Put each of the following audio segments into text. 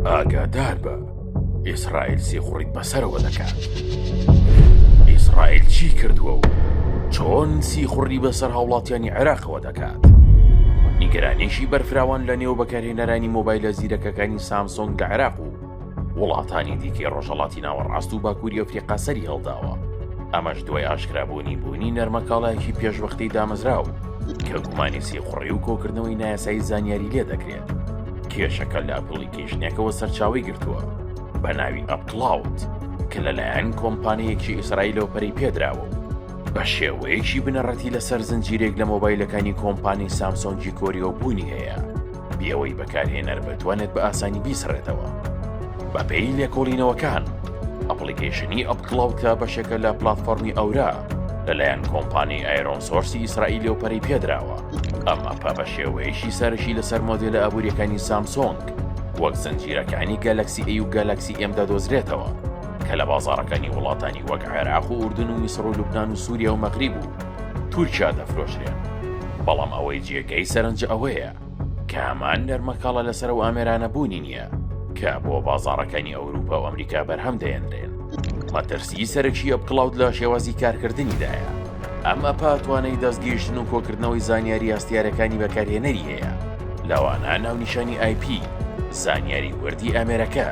ئاگادار بە ئیسرائیل سیخوڕیت بەسەرەوە دەکات ئیسرائیل چی کردووە و چۆن سیخوڕی بەسەر هاوڵاتیانی عێراقەوە دەکات نیگەرانێکی بەرفراوان لە نێو بەکارهێنەرانی مۆبایلە زیرەکەکانی سامسۆنگ لە عێراق و وڵاتانی دیکەی ڕۆژەڵاتی ناوەڕاست و باکووری ئەفریقا سەری هەڵداوە ئەمەش دوای ئاشکرابوونی بوونی نەرمەکاڵایەکی پێشوەختەی دامەزراو کە گومانی سیخوڕی و کۆکردنەوەی نایاسایی زانیاری لێ دەکرێت کێشەکە لە ئەپلیکیشنێکەوە سەرچاوی گرتووە بە ناوی ئەپلاوت کە لەلایەن کۆمپانیەکی ئیسرائیل لەو پەری پێدراوە و بە شێوەیەکی بنەڕەتی لەسەر زنجیرێک لە مۆبایلەکانی کۆمپانی سامسۆنگی کۆریەوە بوونی هەیە بێ ئەوەی بەکارهێنەر بتوانێت بە ئاسانی بیسڕێتەوە بەپێی لێکۆڵینەوەکان ئەپلیکیشنی ئەپ کڵاوکە بەشێکە لە پلتفۆرمی ئەورا لەلایەن کۆمپانی ئایرۆن سۆرسی ئیسرائیل و پەری پێدراوە ئەم ئەپە بە شێوەیەشی سەرشی لەسەر مۆدیلە ئابوووریەکانی سامسۆنگ وەک زنجیرەکانی گەلەکسی ئەی و گەلەکسی ئێمدا دۆزرێتەوە کە لە بازارەکانی وڵاتانی وەک عێراق و ئوردن و میسر و لوبناان و سووریا و مەغریب و تورکیا دەفرۆشرێن بەڵام ئەوەی جێگەی سەرنجە ئەوەیە کە هەمان نەرمەکاڵە لەسەر ئەو ئامێرانە بوونی نییە کە بۆ بازاڕەکانی ئەوروپا و ئەمریکا بەرهەم دەهێنرێن. مەترسیی سەرەکی ئەپ کڵاود لە شێوازی کارکردنیدایە. ئەم ئەپە توانای دەستگەیشتن و کۆکردنەوەی زانیاری هەستیارەکانی بەکارهێنەری هەیە، لەوانە ناونیشانی ئای پی، زانیاری وردی ئامێرەکە،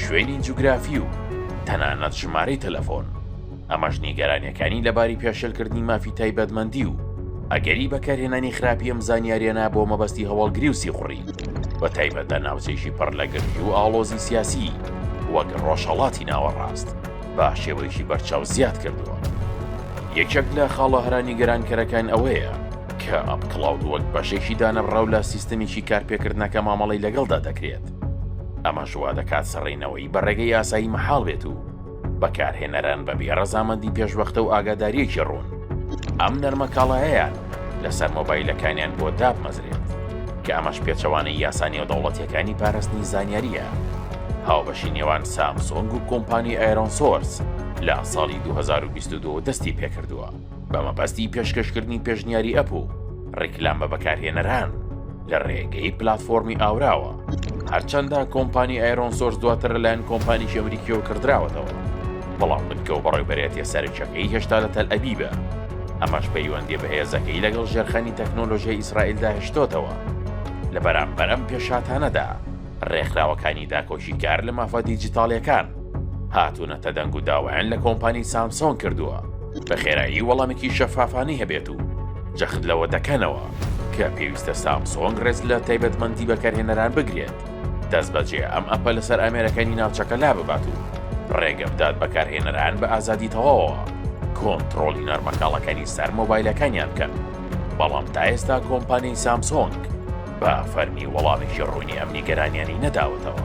شوێنی جوگرافی و تەنانەت ژمارەی تەلەفۆن. ئەمەش نیگەرانیەکانی لەباری پێشێلکردنی مافی تایبەتمەندی و ئەگەری بەکارهێنانی خراپی ئەم زانیاریانە بۆ مەبەستی هەواڵگری و سیخوڕی بە تایبەت لە ناوچەیشی پڕ لە گرژی و ئاڵۆزی سیاسی وەک ڕۆژهەڵاتی ناوەڕاست با شێوەیشی بەرچاو زیاد کردووە یەکێک لە خاڵە هەرانی گەرانکەرەکان ئەوەیە کە ئەپ کلااود وەک بەشێکی دانەبڕاو لە سیستەمێکی کارپێکردنەکە مامەڵی لەگەڵدا دەکرێت ئەمە شوا دەکات سەڕینەوەی بە ڕێگەی یاسایی مەحاڵ بێت و بەکارهێنەران بەبێ ڕەزامەندی پێشوەختە و ئاگاداریەکی ڕوون ئەم نەرمە کاڵایەیان لەسەر مۆبایلەکانیان بۆ دابمەزرێت کە ئەمەش پێچەوانەی یاسا نێودەوڵەتیەکانی پاراستنی زانیاریە هاوبەشی نێوان سامسۆنگ و کۆمپانی ئایرۆن سۆرس لە ساڵی 2022 دەستی پێکردووە. بە مەبەستی پێشکەشکردنی پێشنیاری ئەپ و ڕیکلام بە بەکارهێنەران لە ڕێگەی پلتفۆرمی ئاوراوە هەرچەندە کۆمپانی ئایرۆن سۆرس دواتر لەلایەن کۆمپانیی ئەمریکیەوە کردراوەتەوە بەڵام بنکە و بەڕێبەرێتە سەرچەکەی هێشتا لە تەل ئەبیبە ئەمەش پەیوەندی بەهێزەکەی لەگەڵ ژێرخانی تەکنۆلۆژیای ئیسرائیلدا هشتۆتەوە لە بەرامبەرم پێشاتانەدا ڕێکخراوەکانی داکۆکی کار لە مافە دیجیتاڵیەکان هاتوونەتە دەنگ و داوایان لە کۆمپانی سامسۆنگ کردووە بە خێرایی وەڵامێکی شەفافانەی هەبێت و جەخت لەوە دەکەنەوە کە پێویستە سامسۆنگ ڕێز لە تایبەتمەندی بەکارهێنەران بگرێت دەست بەجێ ئەم ئەپە لەسەر ئامێرەکانی ناوچەکە لا ببات و ڕێگە بدات بەکارهێنەران بە ئازادی تەواوە کۆنتترۆڵی نەرمەکاڵەکانی سەر مۆبایلەکانیان بکەن بەڵام تا ئێستا کۆمپانیای سامسۆنگ بە فەرمی وەڵامێکی ڕوونی ئەم نیگەرانیانی نەداوەتەوە.